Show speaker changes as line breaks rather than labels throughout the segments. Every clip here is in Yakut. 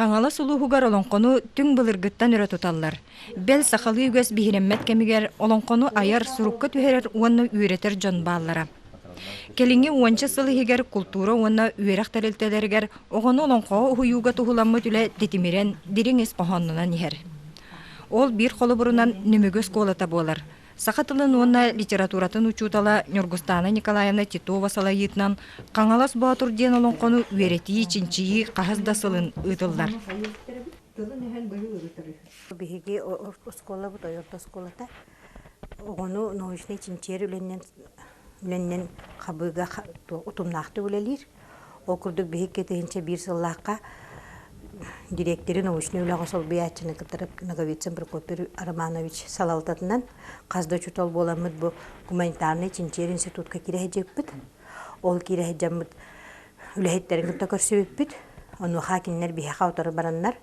Хаҥалас улууһугар олоҥхону түҥ былыргыттан өрө туталлар. Бэл, сахалыы үгэс биһирэммэт кэмигэр олоҥхону айар, сурукка түһэрэр уонна үөрэтэр дьон бааллара. Кэлиҥҥи уонча сыл иһигэр култуура уонна үөрэх тэрилтэлэригэр оҕону олоҥхоҕо уһуйууга туһуламмыт үлэ титимирэн, дириҥ ис хоһоонунан иһэр. Ол биир холобурунан Нөмүгү оскуолата буолар. Саха тылын уонна литературатын учуутала Ньургустаана Николаевна Титова салайыытынан Хаҥалас Боотур диэн олоҥхону үөрэтии-чинчийии хаһыс да сылын ыытыллар. тылын иһэн быһыы ырытар үһү. Биһиги оскуолабыт ойордо оскуолата оҕону научнай чинчийэр үлэннэн үлэннэн хабыыга утумнаахтык үлэлиир. Ол курдук биһик кэтиһинчэ биир сыллаахха дириэктири научнай үлэҕэ солбуйааччыны кытары Ноговицын Прокопий Романович салалтатынан хас да учуутал буоламмыт бу гуманитарнай чинчийэр институтка киирэ сылдьыппыт. Ол киирэ сылдьаммыт үлэһиттэрин кытта көрсүбүппүт. Онуоха кинилэр биһиэхэ утары бараннар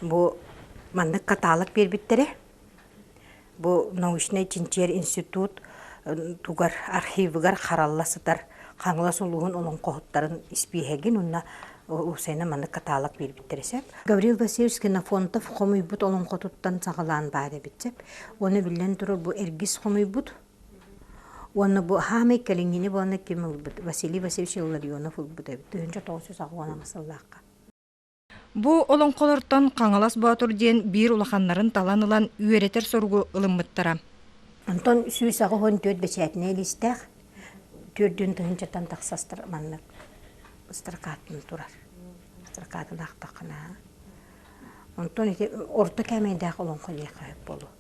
Бу маннык каталог биэрбиттэрэ. Бу научнай чинчийэр институт тугар архивыгар харалла сытар Хаҥалас улууһун олоҥхоһуттарын испииһэгин уонна уопсайынан маннык каталог биэрбиттэрэ сөп. Гаврил Васильевич Кенофонтов хомуйбут олоҥхотуттан саҕалаан баар эбит сөп. Уонна биллэн турар бу эргис хомуйбут уонна бу хаамай кэлиҥҥини буолла ким ылбыт Василий Васильевич Илларионов ылбыт эбит тыһыынча тоҕус жүз аҕыс уон ама сыллаахха. Бу олоҥхолортон Хаҥалас Боотур диэн биир улаханнарын талан ылан үөрэтэр соругу ылыммыттара. Онтон сүүс аҕыс уон түөрт бэчээтинэй листээх түөрдүн тыһыынчаттан тахса ыстар маннык ыстаркаатын турар. Ыстаркаатын аахтаххына онтон ити орто кээмэйдээх олоҥхо лиэхэ сөп буолуо.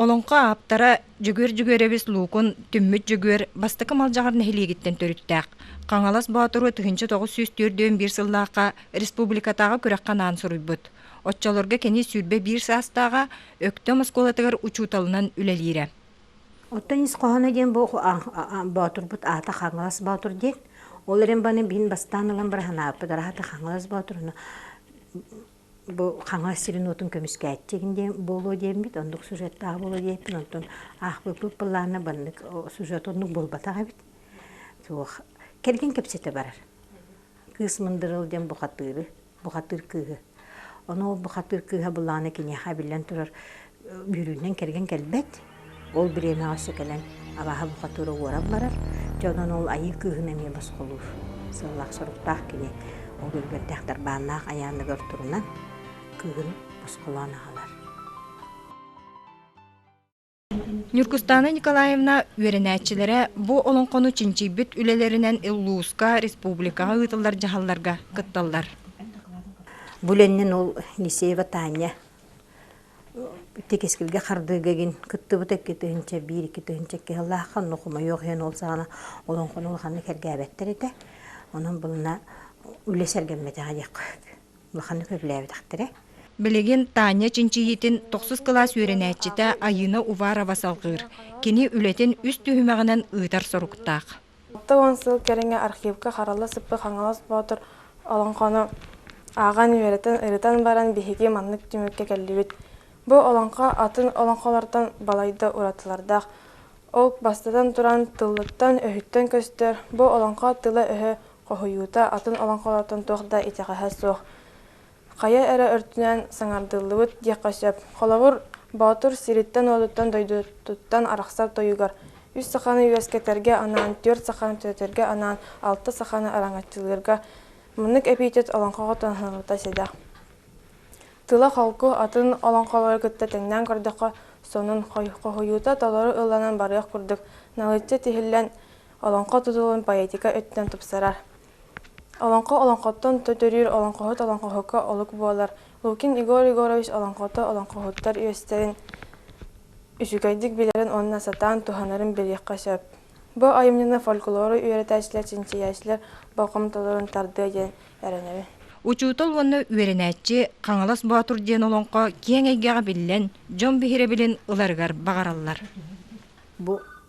Олоҥхо ааптара Дьөгүөр Дьөгүөрэбис Луукун Түммүт Дьөгүөр бастакы Малдьаҕар нэһилиэгиттэн төрүттээх. Хаҥалас Боотуру тыһыынча тоҕус сүүс түөртүөн сыллаахха республикатааҕы күрэххэ анаан суруйбут. Оччолорго кини сүүрбэ биир саастааҕа Өктөм оскуолатыгар учууталынан үлэлиирэ. Оттон ис хоһооно диэн бу Боотурбут аата Хаҥалас Боотур диэн. Ол эрэн баны мин бастаан ылан быраһынааппыт аата Хаҥалас Боотур. бу Хаҥалас сирин-уотун көмүскээччигин диэн буолуо диэммит, оннук сюжеттаах буолуо диэппин, онтон аахпыппыт былаана баннык сюжет оннук буолбатах эбит. Суох. Кэргэн кэпсэтэ барар. Кыыс мындырыл диэн бухатыыры, бухатыыр кыыһы. Ону ол бухатыыр кыыһа былаана киниэхэ эбиллэн турар Дьүрүөнэн кэргэн кэлбэт. Ол бириэмэҕэ өссө кэлэн алааһа бухатыыра уоран барар. Дьонун ол айыы кыыһын эмиэ босхолуур сыллаах-соруктаах кини. Ол үлүгэрдээх тарбааннаах айаанныгар турунан кыыһын босхолоон аҕалар. Ньургустаана Николаевна үөрэнээччилэрэ бу олоҥхону чинчийбит үлэлэринэн Иллууска, республикаҕа ыытыллар дьаһалларга кытталлар. Бу үлэннин ол Елисеева Таанньа тикискилгэ хардыыга гин кыттыбыт экки тыһынча биир икки тыһынча икки сыллаахха онно хомойуох иһин ол саҕана олоҥхону улаханнык эргээбэттэр этэ онон былына үлэ сэргэммэтэҕэ диэххэ улаханнык үлэлээбэтэхтэрэ Билигин Таня чинчийиитин тохсус кылаас үөрэнээччитэ Айыына Уварова салҕыыр. Кини үлэтин үс түһүмэҕинэн ыытар соруктаах. алта уон сыл кэриҥэ архивка харала сыппыт хаҥалас боотур олоҥхону ааҕан үөрэтэн ырытан баран биһиги маннык түмүккэ кэллибит бу олоҥхо атын олоҥхолортон балайда уратылардаах ол бастатан туран тылыттан өһүттэн көстөр бу олоҥхо тыла-өһө хоһуйуута атын олоҥхолортон туох да итэҕэһэ суох Хайа эрэ өртүнэн саҥардыллыбыт диэххэ сөп. Холобур, Боотур сириттэн-уотуттан дойдутуттан арахсар тойугар үс саханы үөскэтэргэ анаан, түөрт саханы төрөтөргө анаан, алта саханы араҥаччылыырга муннук эпитет олоҥхоҕо туһанылбыта седа. Тыла-холку атын олоҥхолору кытта тэҥнээн көрдөххө, сонун хоһуйуута толору ылланан барыах курдук, налычча тиһиллэн, олоҥхо тутулун поэтика өттүнэн тупсарар. Олоҥхо олоҥхоттон төтөрүүр олоҥхоһут олоҥхоһукка олук буолар Лукин Егор Егорович олоҥхото олоҥхоһуттар үөстэрин үчүгэйдик билэрин уонна сатаан туһанарын билиэххэ сөп. Бу айымньыны фольклору үөрэтээччилэр, чинчийээччилэр болҕомтолорун тардыа диэн эрэнэбин. Учуутал уонна үөрэнээччи Хаҥалас Боотур диэн олоҥхо киэҥ эйгэҕэ биллэн, дьон биһирэбилин ыларыгар баҕараллар. Бу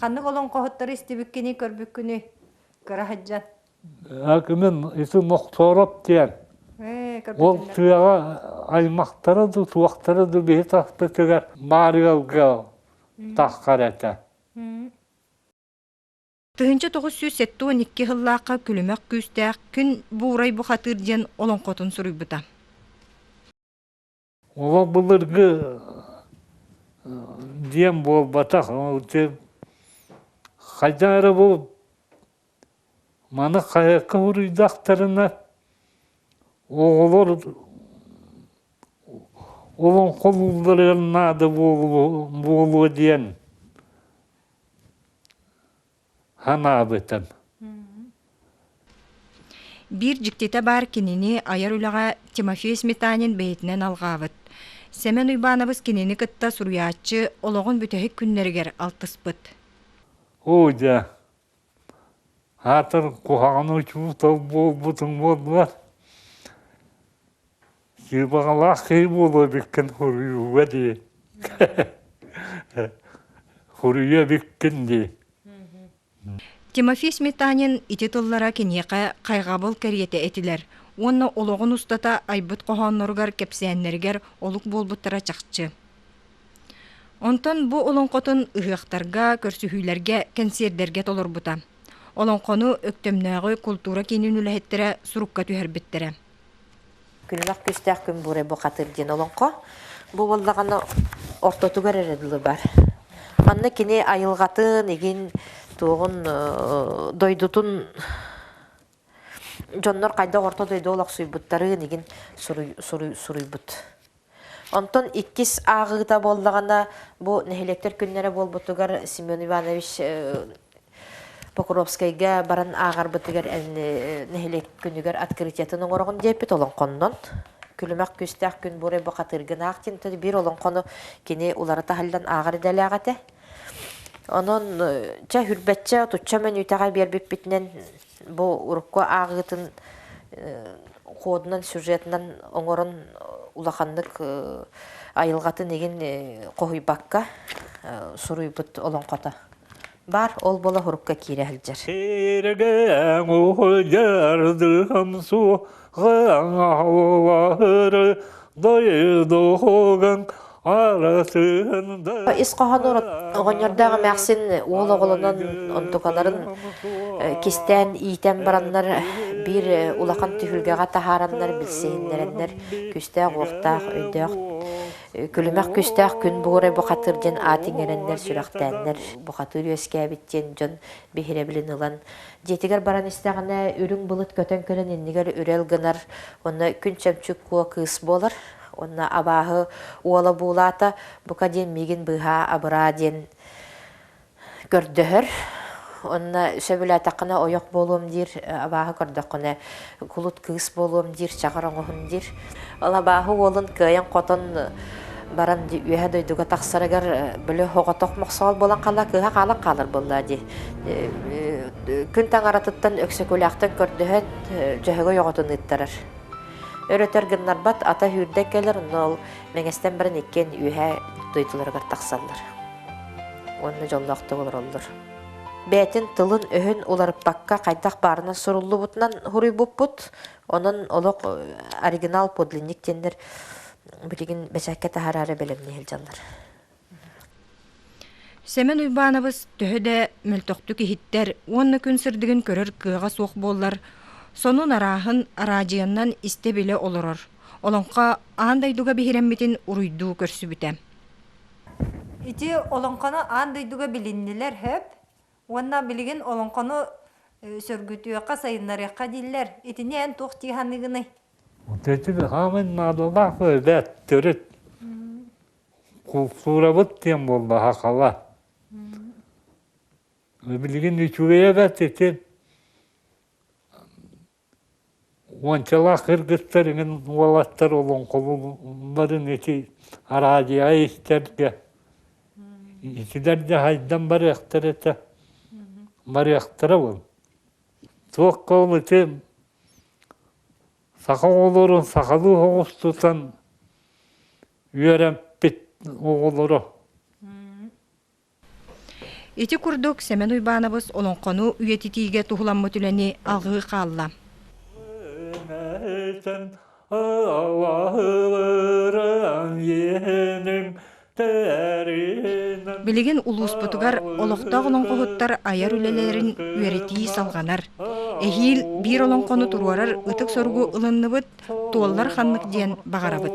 Ханнык олоҥхоһуттары истибиккиний, көрбүккүнүй? Кыра сыдьан. Кимин ити Нохтоороп диэн. Ол тыаҕа аймахтара да туохтара да биһи тахпытыгар баарыалга таххар этэ. Тыһынча тоҕус сүүс сэттэ уон икки сыллаахха күлүмэх күүстээх Күн буурай бухатыыр диэн олоҥхотун суруйбута. олох былыргы диэн буолбатах ол диэн хайдах эрэ бу маны хайыкка уруйдахтарына оҕолор олоҥхолуулларыгар наада буолуо буолуо диэн санаабытым Биир дьиктитэ баар кинини айар үлэҕэ Тимофей Сметанин бэйэтинэн алҕаабыт. Сэмэн Уйбаанабыс кинини кытта суруйааччы олоҕун бүтэһик күннэригэр алтыспыт. Оо дьэ аатын куһаҕан учуутал буолбутуҥ буоллар Сыыбаҕалаах киһи буолуо эбиккин хоруйууга дии хоруйа эбиккин дии Тимофей Сметанин ити тыллара киниэхэ хайҕабыл кэриэтэ этилэр уонна олоҕун устата айбыт хоһоонноругар кэпсээннэригэр олук буолбуттара чахчы. Онтон бу олоҥхотун ыһыахтарга, көрсүһүүлэргэ, кэнсиэрдэргэ толорбута. Олоҥхону Өктөмнөөҕү култуура киинин үлэһиттэрэ сурукка түһэрбиттэрэ. Күнүмэх күүстээх күн буурай бухатыыр диэн олоҥхо. Бу буоллаҕына ортотугар эрэ дылы бар. Манна кини айылҕатын, игин туоҕун дойдутун дьоннор хайдах орто дойду олохсуйбуттарын игин суруй суруй суруйбут. Онтон иккис ааҕыыта буоллаҕына, бу нэһилиэктэр күннэрэ буолбутугар Семен Иванович Покровскайга баран ааҕарбытыгар нэһилиэк күнүгэр открытиятын оҥороҕун диэппит олоҥхоннон күлүмэх күүстээх күн буорай бу хатыргынаах тин биир олоҥхону кини улара таһыллан ааҕар идэлээх этэ онон чэ хүрбэччэ отучча менүүтэҕэ биэрбиппитинэн бу урукку ааҕыытын ходунан сюжетынан оҥорон улаханнык айылҕатын игин хоһуйбакка суруйбут олоҥхото баар ол бола урукка киирэ сылдьар Ис хоһоонор оҕонньордоох эмээхсин уол оҕолонон онтукаларын кистээн иитэн бараннар биир улахан түһүлгэҕэ таһаараннар билсиһиннэрэннэр күүстээх-уохтаах өйдөөх күлүмэх күүстээх күн бугурай бухатыыр диэн аат иҥэрэннэр сүрэхтээннэр бухатыыр үөскээбит диэн дьон биһирэбилин ылан Дьиэтигэр баран истэҕинэ, үрүҥ былыт көтөн кэлэн иннигэр үрэл гынар, онно күн чөмчүк куо кыыс буолар. Уонна абааһы уола буулаата, бука диэн миигин быыһаа абыраа диэн көрдөһөр. Онно сөбүлээтэххинэ ойох буолуом диир, абааһы көрдөххүнэ кулут кыыс буолуом диир, чаҕар оҥоһун диир. Ол абааһы уолун кыайан-хотон баран үөһэ дойдуга тахсарыгар бөлө хоҕотох мохсоол болан хала кыыһа хаалан хаалар буолла дии. Күн таҥаратыттан Өксөкүлээхтэн көрдөһөн Дьөһөгөй оҕотун ыыттарар. Өрөтөр гыннарбат ата үүрдэ кэлэр, онно ол Мэҥэстэн баран иккиэн үөһэ дойдуларыгар тахсаллар. Уонна дьоллоохтук олороллор. бэйэтин тылын-өһүн уларыппакка хайдах баарынан суруллубутунан суруйбуппут. Онон олох оригинал подлинник диэннэр бүтүгүн бэчэкке таһараары бэлэмнии сылдьаллар. Семен Уйбаанабыс төһө да мөлтөхтүк иһиттэр уонна күн сырдыгын көрөр кыаҕа суох буоллар, сонун арааһын араадьыйаннан истэ-билэ олорор, олоҥхо аан дойдуга биһирэммитин уруйдуу көрсүбүтэ. Ити олоҥхону аан дойдуга билиннилэр хөп уонна билигин олоҥхону сөргүтүөххэ, сайыннарыахха дииллэр. Итини эн туох дии саныыгыный? Ити хаамын наадалаах эбээт төрүт култуурабыт диэн буоллаха хала. Билигин үчүгэй эбээт ити Уончалаах кыргыттар эҥин уолаттар олоҥхолуулларын ити араадьыйаҕа истэргэ итилэр да хайдан барыахтара этэ барыахтара буолуо туохха ол ити саха оҕолорун сахалыы соҕус тутан үөрэмпит оҕолоро Ити курдук Сэмэн Уйбаанабыс олоҥхону үйэтитиигэ туһуламмыт үлэни аҕыы хаалла. Билигин улууспутугар олохтоох олоҥхоһуттар айар үлэлэрин үөрэтии салҕанар. Эһиил биир олоҥхону туруорар ытык соругу ылынныбыт, туоллар ханнык диэн баҕарабыт.